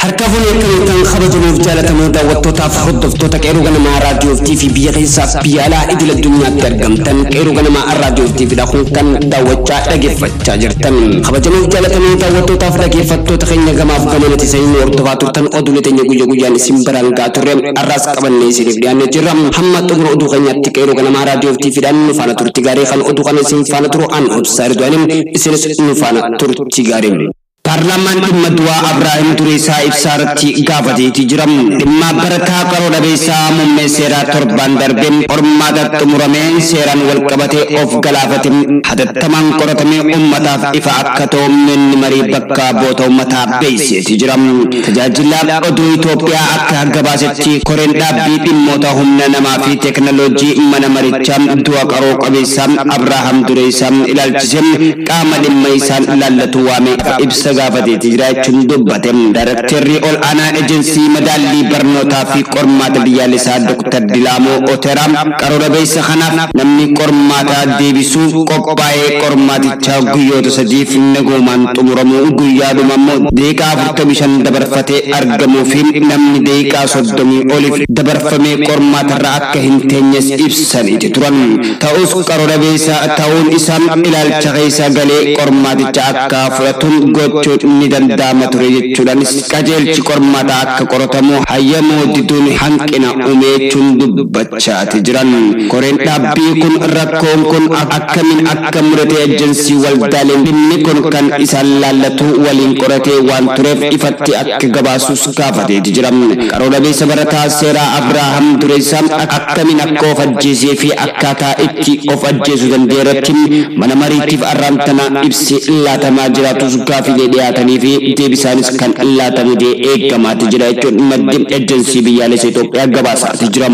Harka fuunee akkamiittan kabajamuuf jaalatamoo daawwattootaaf hordoftoota qeerroo ganamaa raadiyoo fi biyya keessaaf biyya alaa idil addunyaatti argamtan qeerroo ganamaa raadiyoo fi kun kan daawwachaa dhaggeeffachaa Chaa jirtan kabajamoof jaalatamuu daawwattootaaf dhageeffattoota keenya gamaaf gamanati sanii nu hordofaa turtan oduulee teenya guyya guyyaan isin biraan ga'a turre har'aas qabannee isiniif dhiyaannee jirra hamma xumura oduu keenyaatti qeeroo ganamaa raadiyoof tiifiidhaan nu faana turti gaarii kan oduu kana isin faana turu an obsaa ridwaaniin isinis nu faana turti gaarii. Paarlaamaan dhimma du'aa Abraahim Dureessaa Ibsaarratti gaafateeti jira. Dhimma barataa qaroo dhabeessaa muummee seeraa torbaan darbe qormaata xumuramee seeraan walqabatee of galaafate hatattamaan qoratamee ummataaf ifa akka ta'u manni marii bakka bu'oota ummataa beeksiseeti jira. Tajaajila oduu Itoophiyaa akka gabaasetti koreen dhaabbii dhimmoota humna namaa fi teeknooloojii mana marichaa du'a qaroo qabeessaa Abraaham Dureessaa ilaalchisee qaama dhimma isaan ilaallatu waamee akka ibsa gaafateeti jiraachuun dubbate Daayrekteerri ol aanaa Ejensii Madaallii Barnootaa fi Qormaata Biyyaalesaa Doktar Dilaamoo Oteraa qaroora beeysa kanaaf namni qormaataa deebisuuf qophaa'ee qormaatichaa guyyoota sadiif nagoomaan xumuramuu guyyaadhuma ammoo daqiiqaa 45 dabarfatee argamuu fi namni daqiiqaa 30 oliif dabarfamee qormaatarra akka hin teenyes ibsaniiti turan. Ta'us qaro dhabeessa ta'uun isaa ilaalcha keessa galee qormaaticha akka fudhatu gochuun ni danda'ama ture jechuudhaanis qajeelchi qormaataa akka qoratamu hayyamuu diduun hanqina ume jechuun dubbachaati jiran. Koreen dhaabbii kun rakkoon kun akkamiin akka mudate Ejjensii Waldaaleen dhimmi kun kan isaan laallatu waliin qoratee waan tureef ifatti akka gabaasus gaafateeti jira. Qaroo dhabeessa barataa seeraa Abraaham Dureessa akkamiin akka of ajjeesee fi akkaataa itti of ajjeesu danda'e irratti mana mariitiif arraan tana ibsi laatamaa jiraatus gaafiilee dhiyaatanii fi deebisaanis kan laatamu ta'ee eegamaati jira jechuun maddi Ejensii Biyyaalessa Itoophiyaa gabaasaati jira.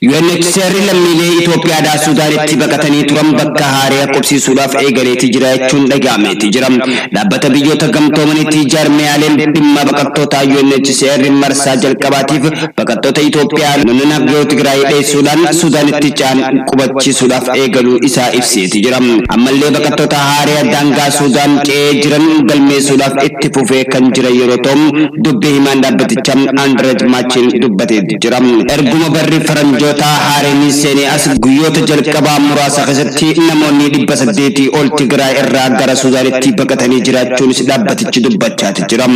UNHCR lammiilee Itoophiyaadhaa Suudaanitti baqatanii turan bakka haaraya qubsiisuudhaaf eegaleeti jira jechuun dhaga'ameeti jira. Dhaabbata Biyyoota Gamtoomaniitti jaarmiyaaleen dhimma baqattootaa UNHCR marsaa jalqabaatiif baqattoota Itoophiyaa naannoo naagoo Tigraay dheessuudhaan Suudaanitti ce'an qubachiisuudhaaf eegaluu isaa ibseeti jira. Ammallee baqattoota haaraya daangaa Suudaan ce'ee jiran galmeessuudhaaf itti fufee kan jiran yeroo ta'u, dubbi himaan dhaabbatichaa Andrej Machin dubbateeti. jira. Erguma barri faranjootaa haareenii seenee as guyyoota jalqabaa muraasa keessatti namoonnii 800 ol Tigraay irraa gara Suudaanitti baqatanii jiraachuunis dhaabbatichi dubbachaati jira.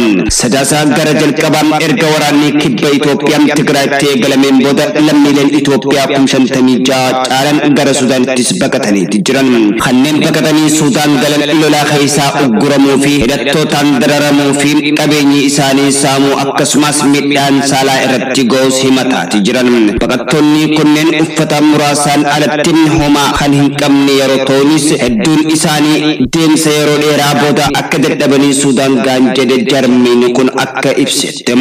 Sadaasa gara jalqabaa erga waraannii kibba Itoophiyaa Tigraayitti eegalameen booda lammiileen Itoophiyaa kum 56 caalan gara Suudaanittis baqataniiti jiran. Kanneen baqatanii Suudaan galan lolaa keessaa ugguramuu fi hidhattootaan dararamuu fi qabeenyi isaanii saamuu akkasumaas miidhaan saalaa irratti ga'uus himataati jiran. Baqattoonni kunneen uffata muraasaan alatti homaa kan hin qabne yeroo ta'unis hedduun isaanii deemsa yeroo dheeraa booda akka dadhabanii Suudaan ga'an jedhe jarmiin kun akka ibsetti.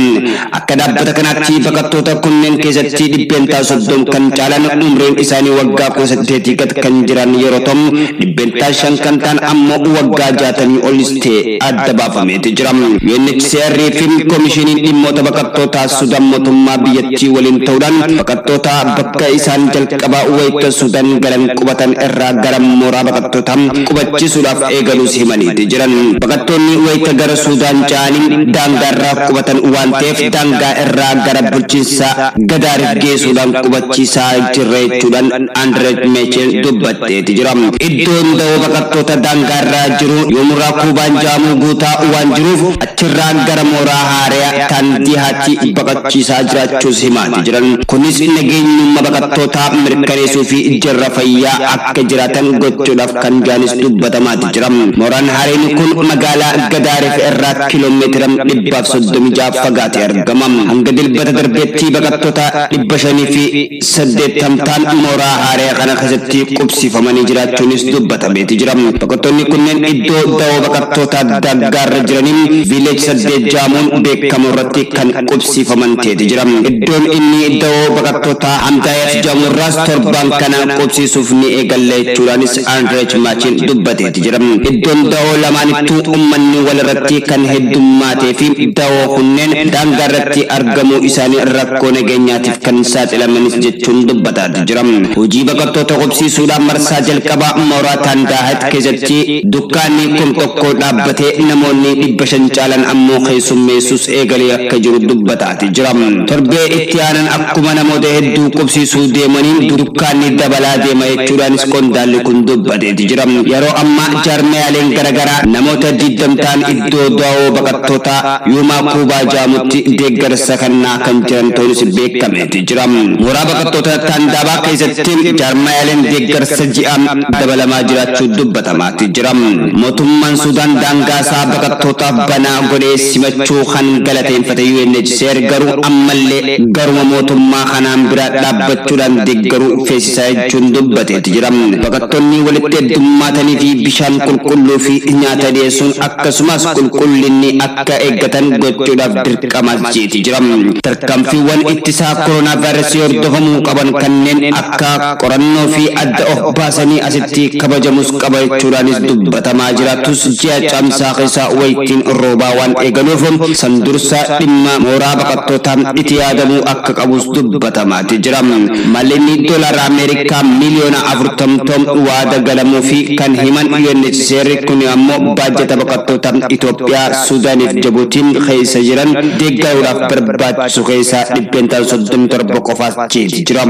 Akka dhaabbata kanaatti baqattoota kunneen keessatti dhibbeentaa soddom kan caalan umriin isaanii waggaa kudha saddeetii gad kan jiran yeroo ta'u dhibbeentaa shan kan ta'an ammoo waggaa jaatamii olis ta'e adda baafameeti jira. UNHCR fi Komishiniin Dhimmoota Baqattootaa Sudan motummaa biyyattii waliin ta'uudhaan baqattoota bakka isaan jalqaba wayita Sudan galan qubatan irraa gara mooraa baqattootaa qubachiisuudhaaf eegaluus himaniiti jiran. Baqattoonni wayita gara Sudan ce'aani daangaarra qubatan waan ta'eef daangaa irraa gara bulchiinsa Gadaariif geesuudhaan qubachiisaa jirra jechuudhaan Andrej Mechel dubbate. badeeti jira. Iddoon dawoo baqattoota daangaa irra jiru yoomurraa Kuubaan ja'amuu guutaa waan jiruuf achirraa gara mooraa haareya tan Dihaatti baqachiisaa jiraachuus himaati jiran. Kunis nageenyumma baqattootaa mirkaneesuu fi jarra fayyaa akka jiraatan gochuudhaaf kan ja'anis dubbatamaati jira. Mooraan haareyni kun magaalaa Gadaarif irraa kilomeetira 136 fagaate argama. Hanga Dilbata darbeetti baqattoota 500 fi 80 taan mooraa haaraya kana keessatti qubsiifamanii jiraachuunis dubbatameeti jira. Baqattoonni kunneen iddoo dawoo baqattootaa Daaggaarra jiraniin Village 8 jaamuun beekkamu irratti kan qubsiifaman teeti jira. Iddoon inni dawoo baqattootaa Hamdaayat jaamu irraas torbaan kana qubsiisuuf ni eegalla jechuudhaanis Andrech Machin dubbateeti jira. Iddoon dawoo lamaanittuu ummanni walirratti kan heddummaateefi dawoo kunneen daangaarratti argamuu isaanii rakkoo rakkoo nageenyaatiif kan saaxilamanis jechuun dubbataati jira. Hojii baqattoota qubsiisuudhaan marsaa jalqabaa mooraa Taandaahat keessatti dukkaanni kum tokkoo dhaabbatee namoonni dhibba shan caalan ammoo keessummeessuus eegalee akka jiru dubbataati jira. Torbee itti aanan akkuma namoota hedduu qubsiisuu deemaniin dukkaanni dabalaa deema jechuudhaanis qondaalli kun dubbateeti jira. Yeroo ammaa jaarmayaaleen garagaraa namoota digdam ta'an iddoo dawoo baqattootaa Yuumaa Kuubaa jaamutti deeggarsa kannaa kan jiran ta'uunis beekameeti jira. Mooraa baqattoota Taandaabaa keessatti jaarmayaaleen deeggarsa ji'aa dabalamaa jiraachuu dubbatamaati jira. Mootummaan Suudaan daangaasaa baqattootaaf banaa godhee simachuu kan galateeffate UNHCR garuu ammallee garuma mootummaa kanaan bira dhaabbachuudhaan deeggaruu feesisaa jechuun dubbateeti jira. Baqattoonni walitti heddummaataniifi bishaan qulqulluu fi nyaata dhiyeessuun akkasumas qulqullinni akka eeggatan gochuudhaaf dirqama jeeti jira. Tarkaanfiiwwan ittisaa koronaavaayirasii hordofamuu qaban kanneen akka qorannoo fi adda of baasanii asitti kabajamuus qaba jechuudhaanis dubbatamaa jira tus ji'a Caamsaa keessa waytiin roobaa waan eegaluuf san dursa dhimma mooraa baqattootaa iti yaadamuu akka qabus dubbatamaati jira. Mallinni doolaara Ameerikaa miiliyoona 40 toom waada galamuu fi kan himan Seerri kuni ammoo baajata baqattoota Itoophiyaa, Suudaaniif Jabuutiin keessa jiran deeggaruudhaaf barbaachisu keessaa dhibbeentaan 37 qofaas ceeti jira.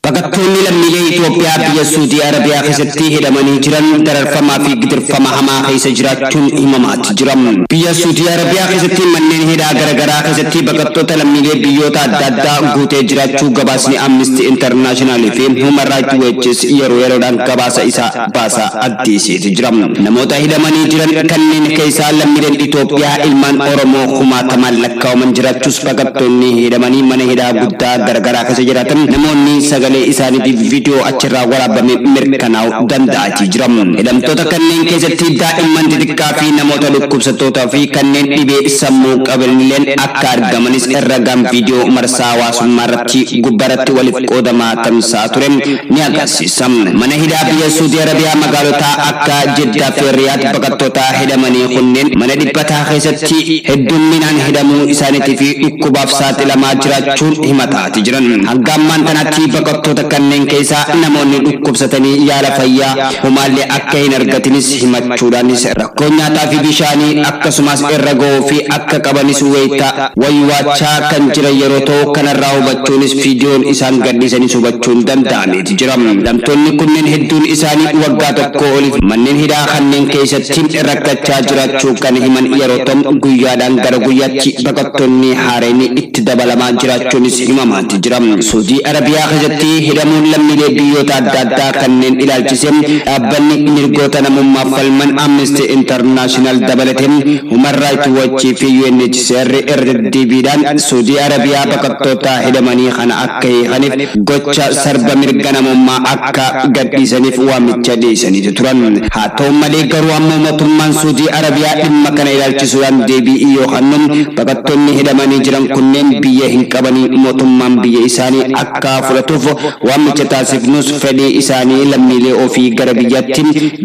Baqattoonni lammiilee Itoophiyaa biyya Suudii Arabiyaa keessatti hidhamanii jiran dararfamaa fi gidirfama hamaa keessa jiraachuun himamaati jira. Biyya Suudii Arabiyaa keessatti manneen hidhaa garagaraa keessatti baqattoota lammiilee biyyoota adda addaa guutee jiraachuu gabaasni Amnesty International fi Human Rights Watch's yeroo yeroodhaan gabaasa isaa baasaa addeesseeti jira. Namoota hidhamanii jiran kanneen keessaa lammiileen Itoophiyaa ilmaan Oromoo kumaatamaan lakkaa'aman jiraachuus baqattoonni hidhamanii mana hidhaa guddaa garagaraa keessa jiraatan namoonni sagalee isaaniitiif viidiyoo achirraa waraabame mirkanaa'u danda'aatii jira. Hidhamtoota kanneen keessatti daa'imman xixiqqaa fi namoota dhukkubsattootaa fi kanneen dhibee sammuu qabanilleen akka argamanis ragaan viidiyoo marsaa hawaasummaa irratti gubbaarratti walitti walitti qoodamaa tamsa'aa ture ni agarsiisa. Mana hidhaa biyya Suudii Arabiyaa magaalota akka Jiddaa fi Riyaad baqattoota hidhamanii kunneen mana dhiphataa keessatti heddumminaan hidhamuu isaaniitii fi dhukkubaaf saaxilamaa jiraachuun himataati jiran. Hanga ammaan tanaatti baqattoota kanneen keessaa namoonni dhukkubsatanii yaala fayyaa homaallee akka hin argatinis himachuudhaanis rakkoon nyaataa fi bishaanii akkasumaas irra ga'uu fi akka qabanis wayita waywaachaa kan jiran yeroo ta'u, kanarraa hubachuunis viidiyoon isaan gadhiisanis hubachuun danda'ameeti jira. Hidhamtoonni kunneen hedduun isaanii waggaa tokkoo oliif manneen hidhaa kanneen keessatti rakkachaa jiraachuu kan himan yeroo ta'u, guyyaadhaan gara guyyaatti baqattoonni haareen itti dabalamaa jiraachuunis himamaati jira. Suudii Arabiyaa keessatti hidhamuun lammiilee biyyoota adda addaa kanneen ilaalchisee dhaabbanni mirgoota namummaaf falman Amnesty International dabalatee Human Rights Watch fi UNHCR Seerri irra deddeebiidhaan Suudii Arabiyaa baqattootaa hidhamanii kana akka hiikaniif gocha sarba mirga namummaa akka gadhiisaniif waamicha dhiyeesaniiti turan. Haa ta'u malee garuu ammoo motummaan Suudii Arabiyaa dhimma kana ilaalchisuudhaan deebii yoo kannu baqattoonni hidhamanii jiran kunneen biyya hin qabanii motummaan biyya isaanii akka akka fudhatuuf waamicha taasifnus fedhii isaanii lammiilee ofii gara biyyatti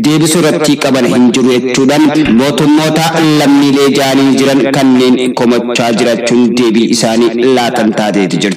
deebisuu irratti qaban hin jiru jechuudhaan mootummoota lammiilee ja'anii jiran kanneen komachaa jirachuun deebii isaanii laatan taateeti jirti.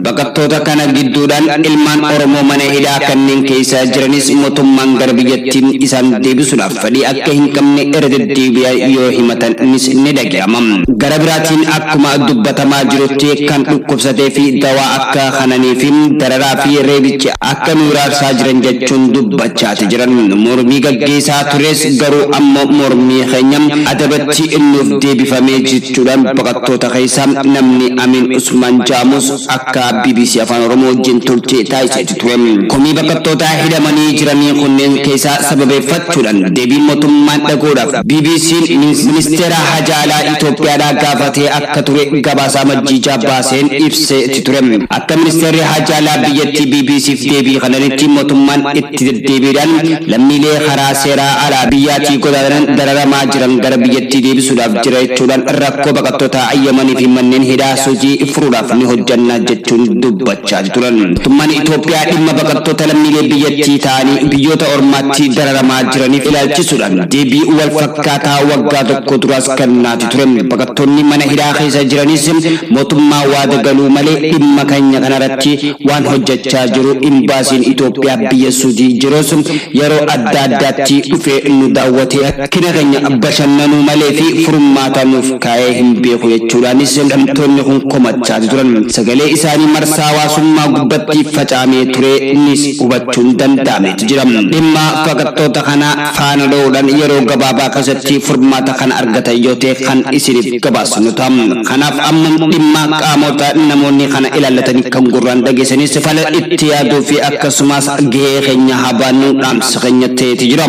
Baqattoota kana gidduudhaan ilmaan Oromoo mana hidhaa kanneen keessa jiranis motummaan gara biyyatti isaan deebisuudhaaf fedhii akka hin qabne irra deddeebi'an yoo himatanis ni dhaga'ama. Gara biraatiin akkuma dubbatamaa jirutti kan dhukkubsatee fi dawaa akka kananii fi dararaa fi reebichi akka nu hiraarsaa jiran jechuun dubbachaati jiran. Mormii gaggeesaa turres garuu amma mormii keenya adabatti nuuf deebifamee jechuudhaan baqattoota keessaa namni Amiin Usmaan ja'amus akka bbc Afaan Oromoo wajjin turtii taasiseetti ture. Komii baqattootaa hidhamanii jiranii kunneen keessaa sababeeffachuudhan deebii motummaan dhaguudhaaf BBCn ministeera haja alaa Itoophiyaadhaa gaafatee akka ture gabaasa Amajjii 6 baaseen ibseeti ture. Akka ministeerri haja alaa biyyattii BBCf deebii kananitti motummaan itti deddeebiidhaan lammiilee karaa seeraa alaa biyyaatii godaananan dararamaa jiran gara biyyattii deebisuudhaaf jira jechuudhaan rakkoo baqattootaa Yamaniifi manneen hidhaa Suuzii furuudhaaf ni hojjanna jechuun dubbate. gochaa turan. Mootummaan Itoophiyaa dhimma baqattoota lammiilee biyyattii ta'anii biyyoota ormaatti dararamaa jiraniif ilaalchisuudhaan deebii wal fakkaataa waggaa tokko duraas kennaati ture. Baqattoonni mana hidhaa keessa jiranis mootummaa waada galuu malee dhimma keenya kanarratti waan hojjechaa jiru imbaasiin Itoophiyaa biyya Suudii jirus yeroo adda addaatti dhufee nu daawwatee Rakkina keenya bashannanuu malee fi furmaata nuuf kaa'ee hin beeku jechuudhaanis hidhamtoonni kun komachaati turan. Sagalee isaanii marsaa hawaasummaa gubbatti facaamee ture nis hubachuun danda'ameeti jira. Dhimma fakattoota kanaa faana dha'uudhaan yeroo gabaabaa keessatti furmaata kan argatan yoo ta'e kan isiniif gabaasnu ta'a. Kanaaf amma dhimma qaamoota namoonni kana ilaallatanii kan gurraan dhageessanis fala itti yaaduu fi akkasumaas gahee keenya haa baannu dhaamsa keenya ta'eeti jira.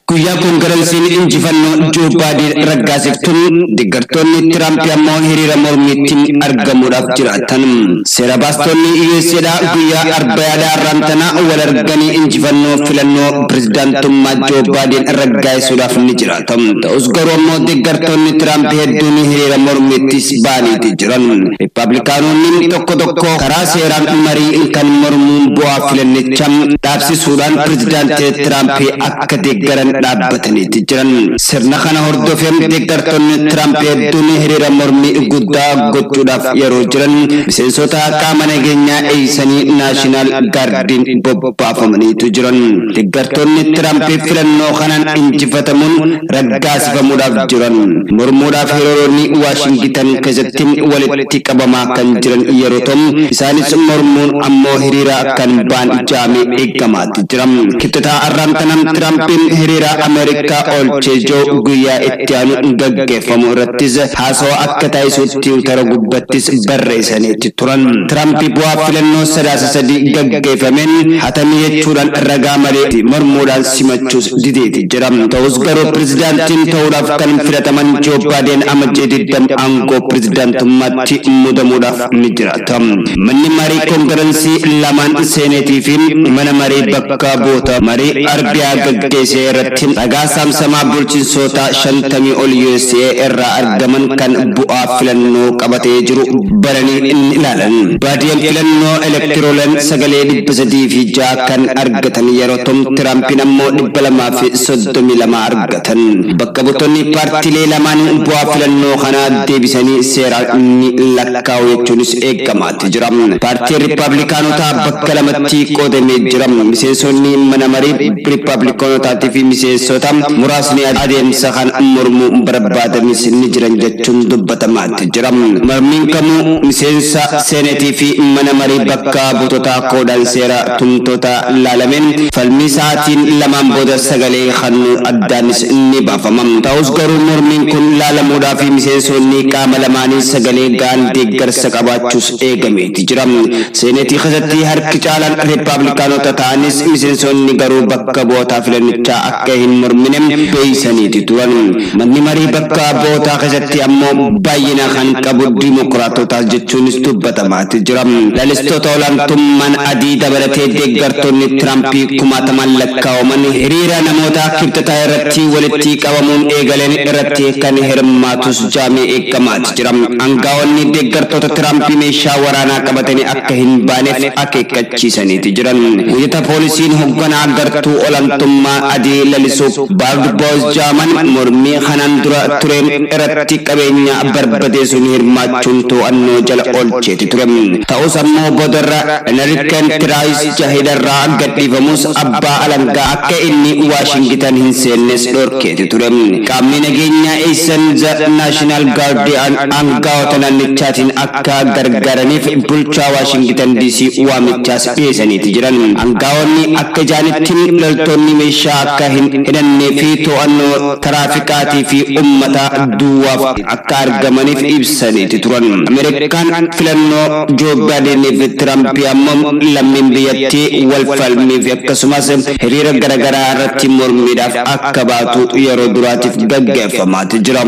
Guyyaa kongaransiin injifannoo Joo Baadeen raggaasiftu deggartoonni Tiraampi ammoo hiriira mormiitti argamuudhaaf jiraatan. Seera baastoonni US'dhaa guyyaa Arbayaadhaa har'aan tana wal arganii injifannoo filannoo pirezidaantummaa Joo Baadeen raggaasisuudhaaf ni jiraata. Ta'us garuu ammoo deggartoonni Tiraampi hedduun hiriira mormiittis ba'aniiti jiran. Rippaablikaanoonni tokko tokko karaa seeraan marii kan mormuun bu'aa filannicha dhaabsisuuf dhaabsisuudhaan pirezidaantii Tiraamp akka deeggaran dhaabbataniiti jiran. Sirna kana hordofee deeggartoonni Tiraamp hedduun hiriira mormii guddaa gochuudhaaf yeroo jiran miseensota qaama nageenyaa eeysanii Naashinaal Gaardiin bobbaafamaniitu jiran. Deeggartoonni Tiraamp filannoo kanaan injifatamuun raggaasifamuudhaaf jiran mormuudhaaf hiriironni Waashingitan keessatti walitti qabamaa kan jiran yeroo ta'u, isaanis mormuun ammoo hiriira kan baan jaame eeggamaati jira. Kibxataa arraan tanaan Tiraampiin hiriira Ameerikaa oolchee jiru guyyaa itti aanu gaggeeffamu irrattis haasawa akka taasisu tiwutara gubbattis barreessaniiti turan. Tiraampi bu'aa filannoo sadaasa sadii gaggeeffameen hatame jechuudhaan ragaa malee mormuudhaan simachuus dideeti jira. Ta'us garuu pirezidaantiin ta'uudhaaf kan filataman Joo Baadeen amajjii 20 aangoo pirezidaantummaatti mudamuudhaaf ni jiraata. Manni marii koongiransii lamaan seeneetii fi mana marii bakka bu'oota marii Arbiyaa gaggeessee irratti ragaa saamsamaa bulchinsootaa 50 ol USA irraa argaman kan bu'aa filannoo qabatee jiru bananii ni ilaalan. Baadiyeen filannoo elektiroolan sagalee 306 kan argatan yeroo ta'u Tiraampiin ammoo 200 232 argatan. Bakka buutonni paartilee lamaanii bu'aa filannoo kanaa deebisanii seeraan ni lakkaa'u jechuunis eegamaati jira. Paartiin Rippaablikaanotaa bakka lamatti qoodamee jira. Miseensonni mana marii Rippaablikaanotaatii fi miseensota muraasni adeemsa kana mormuu barbaadanis ni jiran jechuun dubbatamaa itti jira. Mormiin kamuu miseensa Seeneetii fi Mana Marii Bakka Buutotaa koodaan seera tumtootaa laalamee falmii sa'aatiin lamaan booda sagalee kannuu addaanis ni baafama. Ta'us garuu mormiin kun laalamuudhaaf miseensoonni qaama lamaanii sagalee ga'an deeggarsa qabaachuus eegameeti jira. Seeneetii keessatti harki caalaan Rippaablikaanota ta'anis miseensoonni garuu bakka bu'otaa filannichaa akka. akka hin mormine murteessaniiti turan. Manni marii bakka bootaa keessatti ammoo baay'ina kan qabu dimokiraatotaas jechuunis dubbatamaati jira. Lalistoota olaantummaan adii dabalatee deeggartoonni Tiraampii kumaatamaan lakkaa'aman hiriira namoota Kibxataa irratti walittii qabamuun eegaleen irratti kan hirmaatus jaamee eegamaati. jira. Angaa'onni deeggartoota Tiraamp meeshaa waraanaa qabatanii akka hin baaneef akeekkachiisaniiti jiran. Wayita poolisiin hogganaa gartuu olantummaa adii lalisu Baard Booz ja'aman mormii kanaan dura ture irratti qabeenya barbadeesuun hirmaachuun too'annoo jala oolcheeti ture. Ta'us ammoo boodarra Enriken Tiraayis ja hidharraa gadhiifamus abbaa alangaa akka inni Waashingitan hin seennes dhorkeeti ture. Qaamni nageenyaa Eessan Za Naashinaal Gaardi'aan aanga'oota naannichaatiin akka gargaaraniif bulchaa Waashingitan DC waamichaas dhiyeesaniiti jiran. Aanga'oonni akka jaanitti loltoonni meeshaa akka hin hidhannee fi to'annoo taraafikaatii fi ummataa duwwaaf akka argamaniif ibsaniiti turan. Ameerikaan filannoo Joo Baayideenii fi Tiraampi ammoo lammiin biyyattii wal falmii fi akkasumas hiriira garagaraa irratti mormiidhaaf akka baatu yeroo duraatiif gaggeeffamaati jira.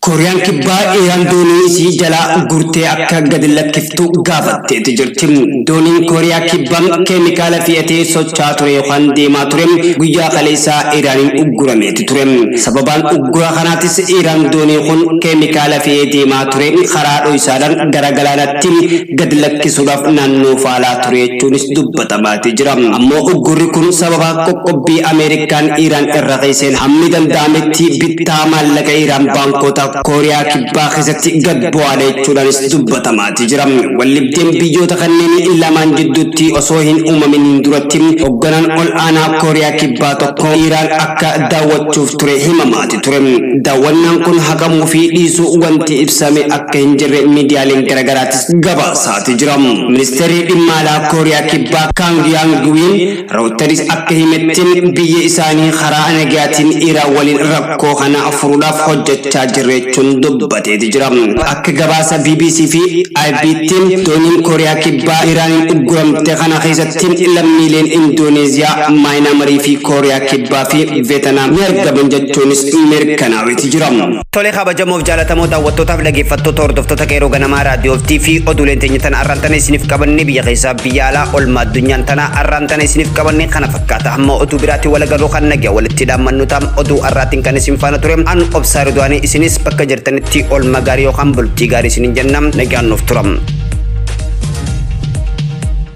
Kooriyaan Kibbaa Iraan doonii isii jalaa gurtee akka gadi lakkiftu gaafatteeti jirti. Dooniin Kooriyaa Kibbaa keemikaala fi'atee socho'aa ture yookaan deemaa ture guyyaa kaleessaa Iraaniin uggurameeti ture. Sababaan uggura kanaatis Iraan doonii kun keemikaala fe'ee deemaa ture karaa dhoysaadhaan gara galaanaatti gad lakkisuudhaaf naannoo faalaa ture jechuunis dubbatamaatii jira. Ammoo uggurri kun sababa qoqqobbii Ameerikaan Iiraan irra keesseen hammi danda'ametti bittaa maallaqa Iiraan baankoota Kooriyaa Kibbaa keessatti gad bu'aadha jechuudhaanis dubbatamaatii jira. Waldhibdeen biyyoota kanneen lamaan jidduutti osoo hin uumaminiin duratti hoogganaan ol aanaa Kooriyaa Kibbaa tokko Iiraan akka daawwachuuf ture himamaati ture. Daawwannaan kun haqamuu fi dhiisuu wanti ibsame akka hin jirre miidiyaaleen garagaraatti gabaasaati jira. Ministeerri dhimma alaa Kooriyaa Kibbaa Kaang Yaang Wiin Rootaris akka himetti biyya isaanii karaa nagaatiin Iraan waliin rakkoo kana furuudhaaf hojjechaa jirreechuun dubbateeti jira. Akka gabaasa BBC fi IBtti dooniin Kooriyaa Kibbaa Iraaniin ugguramte kana keessatti lammiileen Indooneeziyaa, Maayinaamarii fi Kooriyaa Kibbaa fi Veetanaam ni argaman jechuunis mirkanaa'eeti jira. Tole kabajamoof jaalatamoo daawwattootaaf dhageeffattoota hordoftoota qeeroo ganamaa raadiyoo fi TV oduuleen teenya tana arraan tana isiniif qabanne biyya keessaa biyya alaa olmaa addunyaan tana arraan tana isiniif qabanne kana fakkaata hamma oduu biraatiin wal agarruu kan nagaa walitti dhaammannu taam oduu arraatiin kan isin faana ture an obsaa riduwaanii isinis bakka jirtanitti olma gaarii yookaan bultii gaarii isinin jenna nagaan nuuf turam.